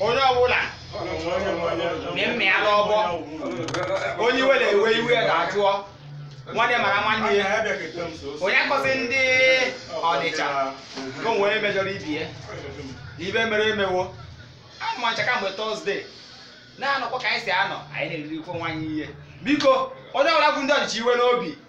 onye ọbụla mmemme ya n'ọgbọ onye iwe na-ewe iwe ya ga-ajụọ nwanne mara nwanne ya onye akọzi ndị ọnịcha ka onwe onye mejọrọ ibe ya na ibe mere emewo anụ ma ncha kamgbe tọzdee na-anọkwa ka anyị si anọ anyị na-eriri ikwe nwaanyị ihe biko onye ọbụla bụ ndị ọnịcha iwe n'obi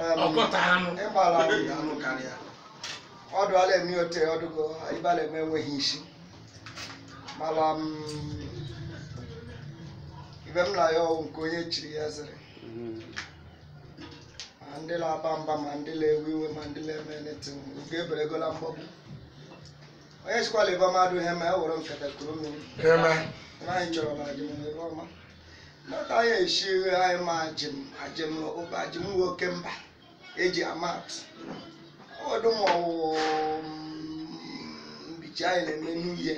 Em, ọkọta anụ ịgbara ahụ ya anụ karịa ọdụ ala eme ote ọdụgo ibe ala eme enweghị isi mara m ibe m na ya ọwụ nke onye chiri ya zere ma ndị na-aba mba ma ndị na-ewe iwe ma ndị na-eme ntị ike eberegola mgbọgbu onye sikwala ibe mmadụ ihe ma ya were nkata kuru mmiri eme ebe anyị chọrọ na ajịm ebe ọma Mata ya eshiri anyị ma ajịm ajịm ụba ajịm nwoke mba eji ama atụ ọdụ ma ọwụwụ mbichi anyị na-eme n'ihe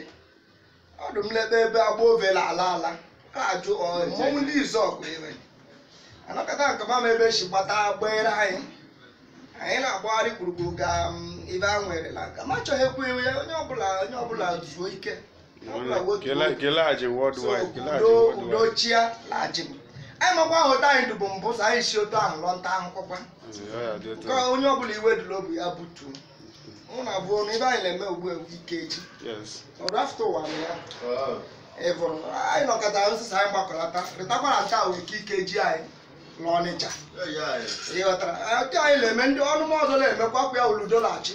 ọdụ m lebe ebe agba ovela ala ala a ajụ ọ, mmọnwụ ndị izuọgụ ire anọkọta nke mama ebe si gbata gbere anyị anyị na-agbagharị gburugburu ka m, ibe a nwere na nka m achọghị ekwu iwe ya onye ọbụla onye ọbụla zuo ike kelaghachi worldwide kelaghachi udo worldwide udo chịa la ajịm anyị makwa ahụ otu anyị dụbụ mbụ so anyị si otu ahụ lụọ nta ahụhụkwa Ọ ya dị otu ka a. onye ọbụla iwe dị l'obi ya butuo mụ na abụọ na ibe anyị na-eme ugbu a bụ ikeji Yes. ọrụ after ụwa na ya ị bụrụ anyị nọkọta nsịsa anyị gbakọlata rịtakwara nta ahụ ike ikeji anyị n'ọnịcha ịghọtara otu anyị na-eme ndị ọnụma ọzọ na-emekwa kwa ya uludo na-achị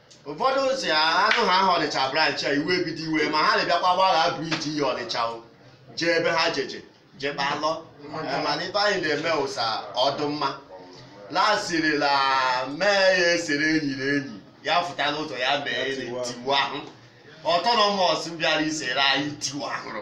ụfọdụ si anụ ha aha ọnịcha branch a iwe ebido iwe ma ha na-abịakwa gbagha bridge iyi ọnịcha o jee ebe ha jeje jee kpalọ Eh, mana ife anyị na-eme ụsa ọdụ mma lasiri la mee ya esere enyi na enyi ya fụta n'ụzọ ya mee ya tiwa ahụ autonomous bịara isere anyị ntiwa ahụrụ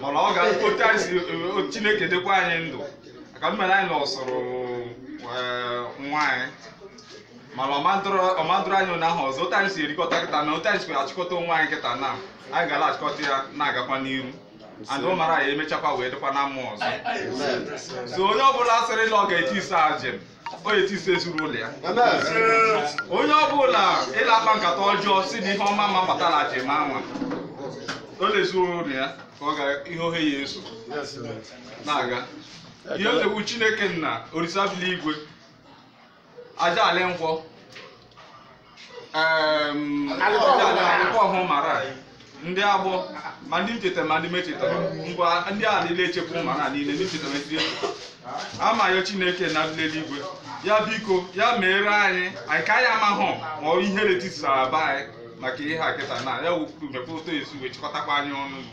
mana ọ ga otu anyị si o- chineke dekwa anyị ndụ ka m mere anyị na ọsọrọ eh, nwa anyị mana ọ ma-adụrụ anyị ụnyaahụ ọzọ otu anyị si erikọta kịta na otu anyị si achịkọta onwe anyị kịta na anyị gara achịkọta ya na-agakwa n'iru and ọ mara ya emechakwa wee dịkwa na mma ọzọ so onye ọbụla sịrị na ọ ga-etisi ajịm o tisi ezi na ụlọ ya onye ọbụla la-akpa nkata ọjọọ si na ihe ọma ma-abata na ajịm a nwaa o l'ezi na ụlọ ya ka ọ gara ihe ohe ya eso na-aga ihe otegbu chineke nna orisa bi l'igwe aja ala nkwọ Em, alịkọ ọhụụ mara a, ndị agbọ ma ndị m chetara ma ndị mechetara ngwa ndị a niile echekwa mara a niile ndị ncheta mechiri echeta ama ya chineke na ndị eluigwe ya biko ya meere anyị anyị ka ya mahụ ma ọ ihere tisara be anyị maka ihe a kịta na ya wepụrụ mepụta esi wee chịkọtakwa anyị ọnụ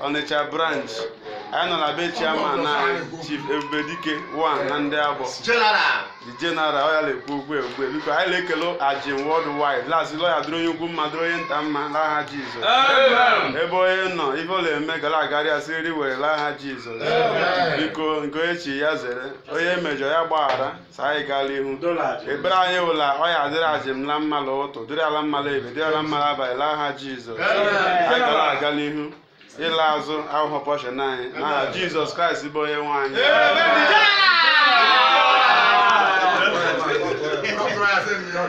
Ọnịcha branch anyị nọ na be chairman anyị Chief Ebubedike one na ndị agbọ General. ọ ya na-ekwu okwu ugbua biko anyị na-ekele Ajim worldwide la-asị la ọ ya-adịrị onye ukwu mma dịrị onye nta mma n'aha Jizọs Amen. ebe onye nọ ife ọ na-eme ga la-agara ya siriri werere n'aha Jizọs Amen. biko nke onye chi ya zere onye mejọ ya gbaghara sa anyị gaa l'ihu ekpere anyị wụ la ọ ya-adịrị Ajim la mma l'ụtụtụ dịrị ya la mma l'ebe dịrị ya la mma l'abalị l'aha jizọs anyị ga la-aga l'ihu ịla azụ awụhụ portion anyị n'aha jizọs kraịst bụ onye nwe anyị Amen.